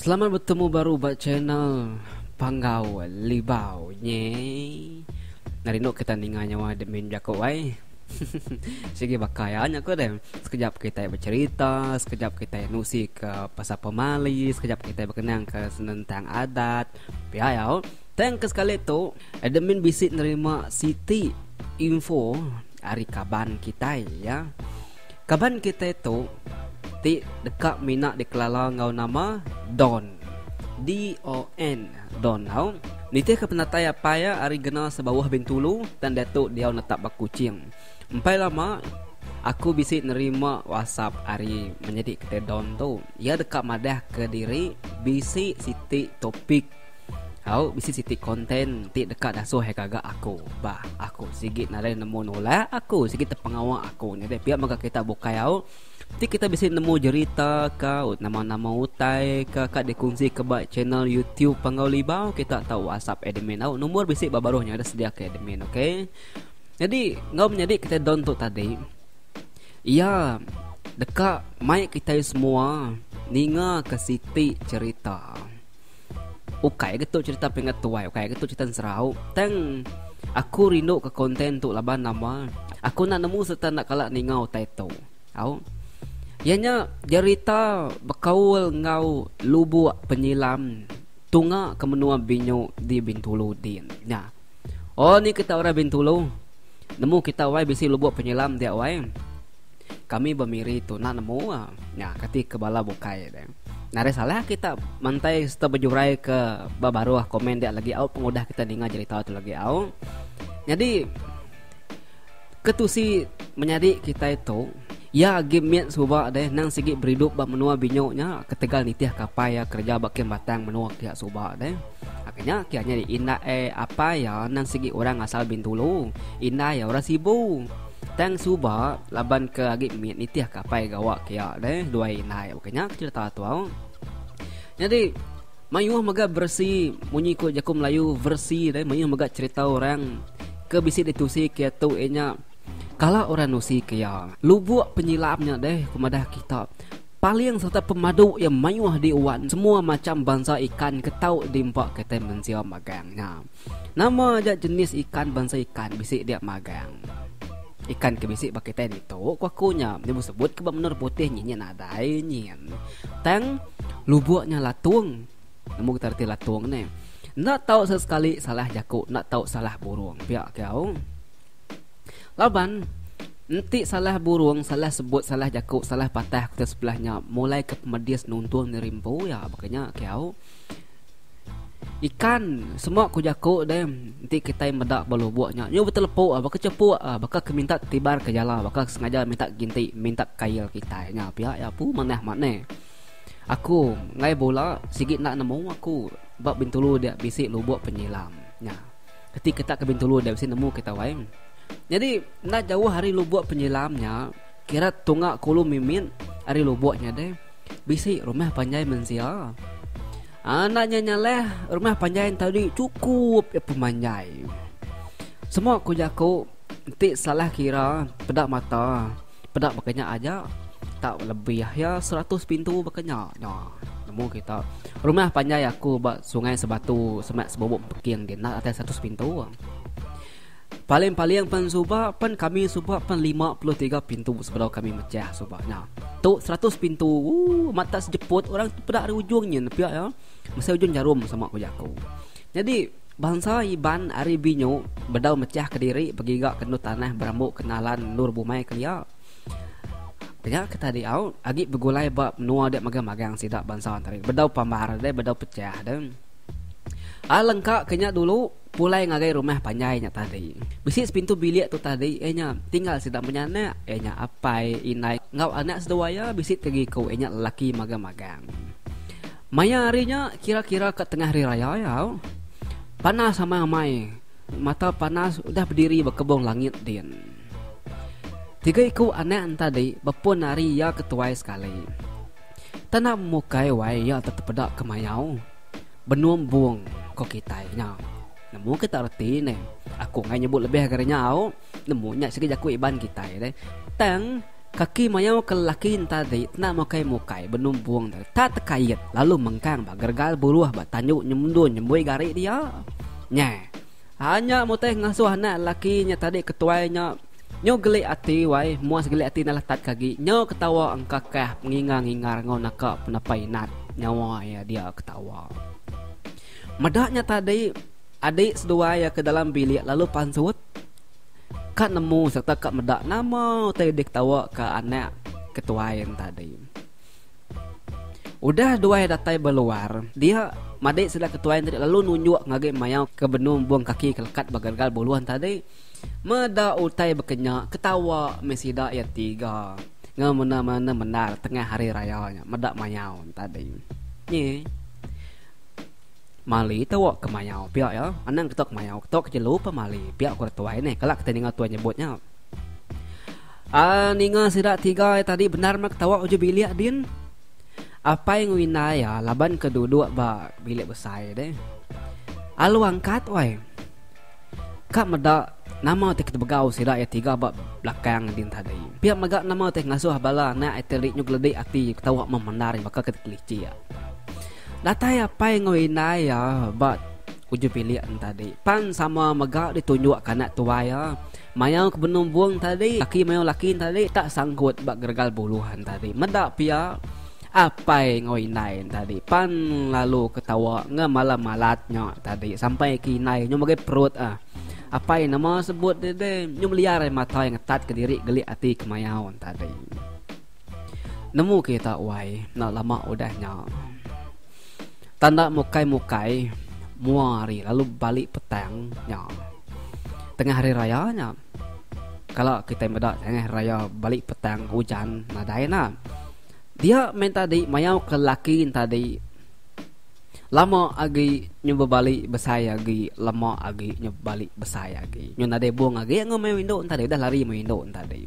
Selamat betemu baru ba channel Panggau Libau nye. Enda rindu kita ninga nya wai admin jaku wai. Sigi baka iya nya ku deh. Sekejap kitai becerita, sekejap kitai nusi ke pasal pemali, sekejap kitai bekenang ke senentang adat. Pia iya oh. Tang ke sekali tu, admin bisi nerima siti info ari kaban kitai iya. Kaban kitai tu ti deka mina dikelala enggau nama Don, D-O-N, Don tau, nitihka penatai apai iya ari Gena Sebauh Bintulu tang diatu diau netap ba Kuching. Empai lama, aku bisi nerima whatsapp ari menyadi kitai Don tu. Iya deka madahka diri bisi siti topik. Au bisi siti konten ti deka dasuh iya gaga aku bah aku sigi nadai nemu nulak aku sigi tepengawa aku nyadi pia mega kita bukai au ti kita bisi nemu jerita ka nama-nama utai ka ka dikunsi ka ba channel YouTube Panggau Libau kita tau whatsapp admin au number bisi ba baruh nya dah sedia ka admin ok nyadi enggau menyadi kita don tu tadi iya deka mai kitai semua ninga ka siti jerita. Ukai getu cerita peringat tuai, ukai getu cerita serau. Tang aku rindu ke konten tu laban nama aku nak nemu serta nak kala ninga utai tu. Au. Ianya cerita bekaul enggau lubuk penyilam tunga ke menua Binyu di Bintulu din. Nya. Oh ni kita orang Bintulu. Nemu kita wai bisi lubuk penyilam dia wai. Kami bemiri tu nak nemu ah. Nya kati ke bala bukai deh. Nari salah kita mantai serta bejurai ke baruh komen dia lagi au pengudah kita ninga cerita tu lagi au. Jadi ketusi menyadi kita itu Ya agi mit suba deh nang sigi beridup ba menua binyo nya ketegal nitih kapai ya kerja ba kem batang menua kiya suba deh. Nya kiya nya indah eh apai ya nang sigi orang asal Bintulu. Indah ya orang Sibu. Tang suba laban ke agi mit nitih ke apai gawa ke iya deh duai indai bukai nya ke cerita tu. Nyadi mayuh mega versi munyi ku jaku Melayu versi deh mayuh mega cerita orang ke bisi ditusi ke iya tu iya nya kala orang nusi ke iya. Lubuk penyilam nya deh ku madah kita paling sereta pemadu iya mayuh di wan semua macham bansa ikan ke tau di empa kitai mensia magang nya. Nama aja jenis ikan bansa ikan bisi dia magang. Ikan ke bisi ba kitai ditu ku aku nya nya besebut ke ba menara putih nyin nya nadai nyin. Tang lubok nya latung. Nemu kita reti latung ne. Enda tau sesekali salah jaku enda tau salah burung pia ke au. Laban enti salah burung salah sebut salah jaku salah patah kita sebelah nya mulai ke pemedis nuntung nerimpau iya baka nya ke au. Ikan semua ku jaku deh enti kitai meda ba lubok nya nyu betelepu ah baka chepu ah baka ke minta tibar ke jala baka ke sengaja minta ginti minta kail kitai nya pia iya pu manah mane. Aku ngai bula sigi enda nemu aku ba bintulu dia bisi lubok penyilam nya enti kita ke bintulu dia mesti nemu kita wai nyadi enda jauh ari lubok penyilam nya kira tunga kulu mimit ari lubok nya deh bisi rumah panjai mensia. Anak nya nyaleh rumah panjai entau diri chukup iya pemanjai. Semua ku jaku enti salah kira peda mata peda baka nya aja tak lebih iya seratus pintu baka nya nya nemu kita rumah panjai aku ba sungai sebatu semak sebumbung peking di enda datai seratus pintu. Paling-paling pen suba pen kami suba pen lima puluh tiga pintu sebedau kami mechah suba nya. Tu seratus pintu. Ooh, amat tak sejeput orang tu peda ari ujung nyin pia ya. Mesai ujung jarum sama ku jaku. Jadi Bansa Iban ari Binyu bedau mechah ke diri begiga ke endur tanah berambu kenalan endur bumai kelia. Nya ke tadi au agi begulai ba menua dia magang-magang sida bansa tadi. Bedau pambar deh, bedau pechah deh. Alangka ke nya dulu, Pulai ngagai rumah panjai nya tadi. Bisi sepintu bilik tu tadi iya nya tinggal sida empunya anak iya nya apai, indai enggau anak seduai iya bisi ti iku iya nya lelaki magang-magang. Maya hari nya kira-kira ka tengah hari raya iya au. Panas amat amai mata panas udah bediri ba kebong langit din. Tiga iku anak ne tadi bepun ari iya ke tuai sekali. Tanda mukai wai iya tetepeda ke mayau. Benung embung ko kitai nya. Nemu kita reti neh. Aku angai nyebut lebih ngagai nya au. Nemu nya sigi jaku Iban kitai deh. Tang kaki mayau ke lelaki entadi tena mukai mukai benung embung deh. Ta tekait lalu mengkang ba gergal buruh ba tandu nyemdu nyembui gari dia. Nyeh. Hanya mutih ngasuh anak laki nya tadi ke tuai nya nyu geli ati wai muas geli ati enda letat ke agi nyu ketawa engka kah pengingar ngingar enggau naka penepai nat nyawa iya dia ketawa meda nya tadi adi seduai iya ke dalam bilik lalu pansut ka nemu serta ka meda nama utai diketawa ka anak ke tuai nya tadi. Udah duai datai ba luar dia, madik sida ke tuai tadi lalu nunjuk ngagai mayau ke benung embung kaki ke lekat ba gagal buluh tadi. Meda utai baka nya, ketawa meh sida iya tiga enggau menda-menda mendar tengah hari raya nya meda mayau nya tadi. Nyi Mali tewok ke mayau pia iya, anang ke tewok ke mayau, tewok ke jelu pemali pia ku orang tuai nih. Kala kitai ninga tuai nyebut nya. Aa ninga sida tiga ai tadi bendar meh ketawa uji bilik din. Apai enggau indai iya laban ke duduk ba bilik besai deh. Alu angkat wai. Ka meda nama ti ketebegau sida iya tiga ba belakang din tadi. Pia mega nama ti ngasuh bala anak iti ri nyuk ledi ati ketawa meh bendar nya baka ke dikelicik. Datai apai enggau indai iya ba uji bilik ne tadi pan sama mega ditunjuk ke anak tuai iya. Mayau ke benung bung tadi, laki mayau laki tadi tak sangkut ba geregal buluh tadi. Meda pia apai enggau indai tadi pan lalu ketawa enggau malam malat nya tadi sampai ke indai nyau mega perut ah. Apai nama sebut deh deh nyau meliar ai mata ngetat kediri gelik ati ke mayau tadi. Nemu kita wai enda lama udah nya. Tanda mukai-mukai mua hari lalu balik petang nya. Tengah hari raya nya. Kala kitai meda tengah hari raya balik petang ujan nadai enda. Dia meh tadi mayau ke laki ne tadi lama agi nyu bebalik besai agi lama agi nyu bebalik besai agi. Nyu nadai bung agi ngau mayuh indu ne tadi udah lari mayuh indu ne tadi.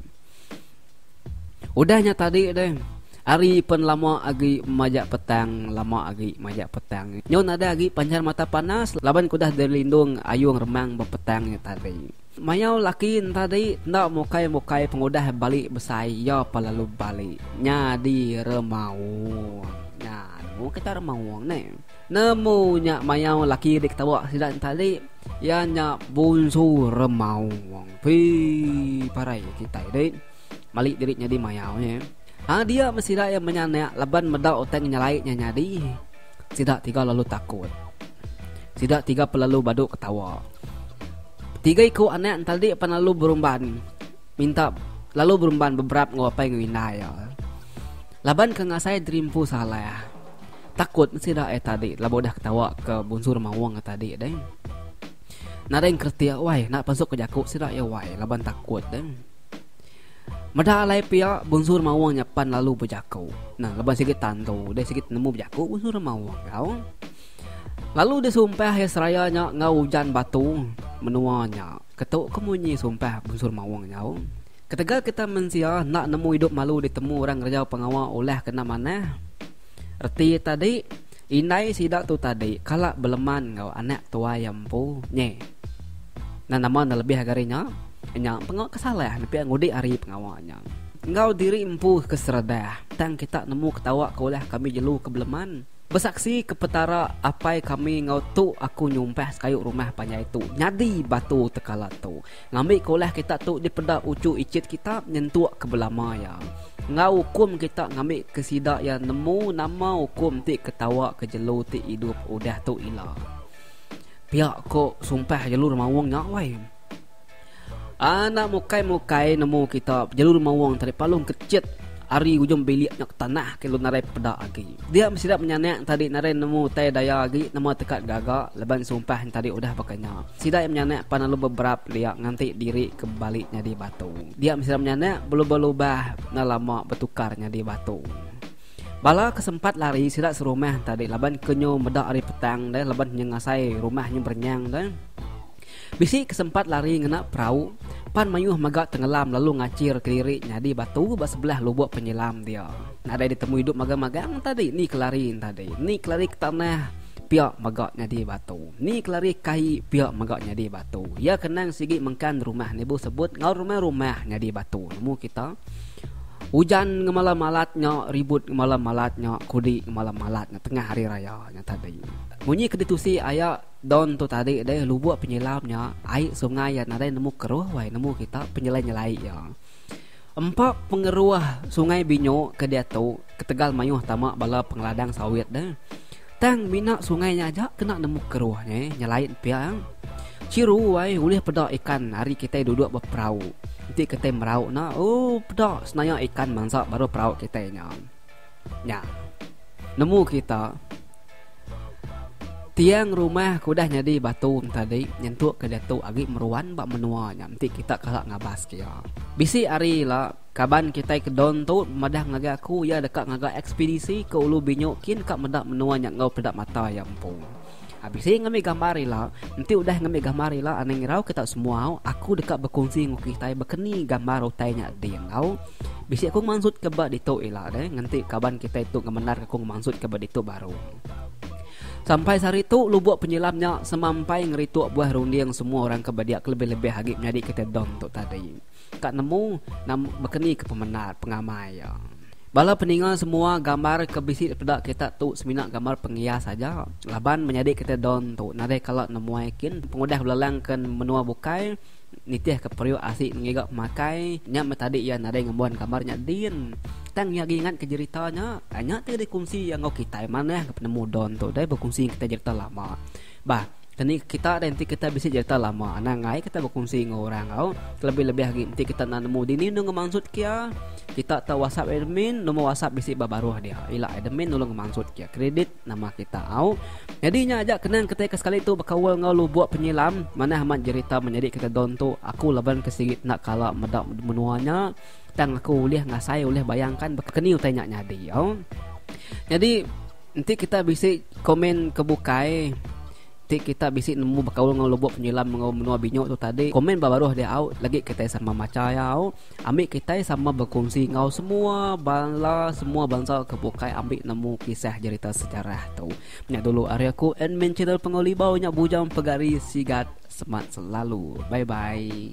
Udah nya tadi deh. Hari pen lama agi majak petang, lama agi majak petang. Nyo nadai agi panjar mata panas laban kudah dilindung ayung remang bepetang nya tadi. Mayau laki nya tadi enda mukai-mukai pengudah bali besai iya pa lalu bali nyadi remaung. Nya aduh kita remaung neh. Nemu nya mayau laki diketawa sida entali iya nya Bunsu Remau Wong. Pi parai kitai deh mali diri nyadi mayau nya. Ha dia meh sida iya menya anak laban meda utai ngenyalai nya nyadi. Sida tiga lalu takut. Sida tiga pun lalu badu ketawa. Tiga iku anak entadi pan lalu berumban minta lalu berumban beberap enggau apai enggau indai iya. Laban ke ngasai diri empu salah. Takut mesti dah ai tadi laban udah ketawa ke Bunsu Rumah Wong ai tadi deh. Nadai engkretik wai enda pansut ke jaku sida iya wai laban takut deh. Meda alai pia Bunsu Rumah Wong nya pan lalu bejaku. Nah laban sigi tantu deh sigi tenemu bejaku Bunsu Rumah Wong tau. Lalu deh sumpah iya seraya nya enggau ujan batu menua nya. Ketu ke munyi sumpah Bunsu Rumah Wong nya. Ketegal kita mensia enda nemu idup malu ditemu orang ngereja pengawa ulah kena manah. Reti tadi, indai sida tu tadi kala beleman enggau anak tuai empu nyi. Nan nama nelebih agar inya? Inya pengau ke salah nepia ngudi ari pengawa inya. Enggau diri empu ke seredah, tang kita nemu ketawa ke ulah kami jelu ke beleman. Besaksi ke Petara, Apai kami enggau tu aku nyumpah sekayu rumah panjai tu nyadi batu tekala tu. Ngambika ulah kita tu dipeda uchu ichit kita nyentuk ke belama iya, enggau ukum kita ngambika sida iya nemu nama ukum ti ke tawaka jelu ti idup udah tu ila. Pia ko sumpah jelu remaung nya wai. Anak mukai-mukai nemu kita jelu remaung tadi palung kechit Ari ujung bilik nya ke tanah ke lu narai pepeda agi. Dia mesida menyanak entadi narai nemu utai daya agi nama teka gaga laban sumpah entadi udah baka nya. Sida iya menyanak pan alu beberap lia nganti diri ke bali nyadi batu. Dia mesida menyanak belubah-lubah enda lama betukar nyadi batu. Bala ke sempat lari sida serumah entadi laban ke nyu meda ari petang deh laban nyengasai rumah nyu berenyang deh. Bisi ke sempat lari ngena perau pan mayuh mega tengelam lalu ngachir ke diri nyadi batu ba sebelah lubok penyelam dia. Nadai ditemui duk magang-magang entadi ni ke lari entadi ni ke lari ke tanah pia mega nyadi batu ni ke lari kai pia mega nyadi batu. Iya ke nang sigi mengkan rumah nebu sebut enggau rumah-rumah nyadi batu nemu kita ujan ngemala malat nya ribut ngemala malat nya kudi ngemala malat nya tengah hari raya nya tadi. Munyi ke ditusi aya. Don tu tadi deh lubuk penyilam nya ai sungai iya nadai nemu keruh wai nemu kita penyelai-nyelai iya. Empa pengeruh sungai Binyu ke diatu ketegal mayuh tama bala pengeladang sawit deh. Tang mina sungai nya aja kena nemu keruh nya eh nyelai pia. Chiru wai ulih peda ikan ari kitai duduk ba perau. Enti kitai merau nya ooh peda senaya ikan mansa baru perau kitai nya. Nya. Nemu kita tiang rumah ke udah nyadi batu tadi nyentuk ke diatu agi meruan ba menua nya enti kita kala ngabas ke iya. Bisi hari ila kaban kitai ke Don tu madah ngagai aku iya deka ngagai ekspedisi ke Ulu Binyu kin ka meda menua nya enggau peda mata iya empu. Abisi ngambi gambar ila. Enti udah ngambi gambar ila anang irau ke tau semua, aku deka bekunsi enggau kitai bakani gambar utai nya di enggau bisi aku mansut ke ba ditu ila deh ngenti kaban kitai tu ngemendar aku mansut ke ba ditu baru. Sampai sehari tu lubuk penyelam nya semampai ngerituk buah runding semua orang ke bedia kelebih-lebih agi menyadi kitai dom tu tadi. ka nemu nama bekeni ke pemendar pengamai iya. Bala peninga semua gambar ke bisi peda kita tu semina gambar pengias aja laban menyadi kita don tu nadai kala nemuai kin pengudah belalang ke menua bukai nitihka periuk asi ngiga pemakai nya meh tadi iya nadai ngembuan gambar nya din tang iya agi ngatka jerita nya nya ti dikunsi iya enggau kitai manah penemu don tu deh berkunsi kita jerita lama bah. Keni kita deh enti kita bisi jerita lama anang ai kita bekunsi enggau orang au kelebih-lebih agi enti kita enda nemu dini enda ngemansut kia kita tau whatsapp admin nombor whatsapp bisi ba baruh dia ila admin nulung ngemansut kia kredit nama kita au nyadi nya aja kena kitai ke sekali tu bekaul enggau lubuk penyilam manah amat jerita menyadi kita don tu aku laban ke sigi enda kala meda menua nya tang aku ulih ngasai ulih bayangkan bekeni utai nya nyadi au nyadi Enti kita bisi komen ke bukai ti kita bisi nemu bekaul enggau lubok penyilam enggau menua binyo tu tadi komen ba baruh dia au lagi kitai sama macha iya au ami kitai sama bekunsi enggau semua bala semua bansa ke bukai ambi nemu kisah jerita sejarah tu. Nya dulu ari aku admin channel Pengawa Libau nya Bujang Pegari Sigat semat selalu bye bye.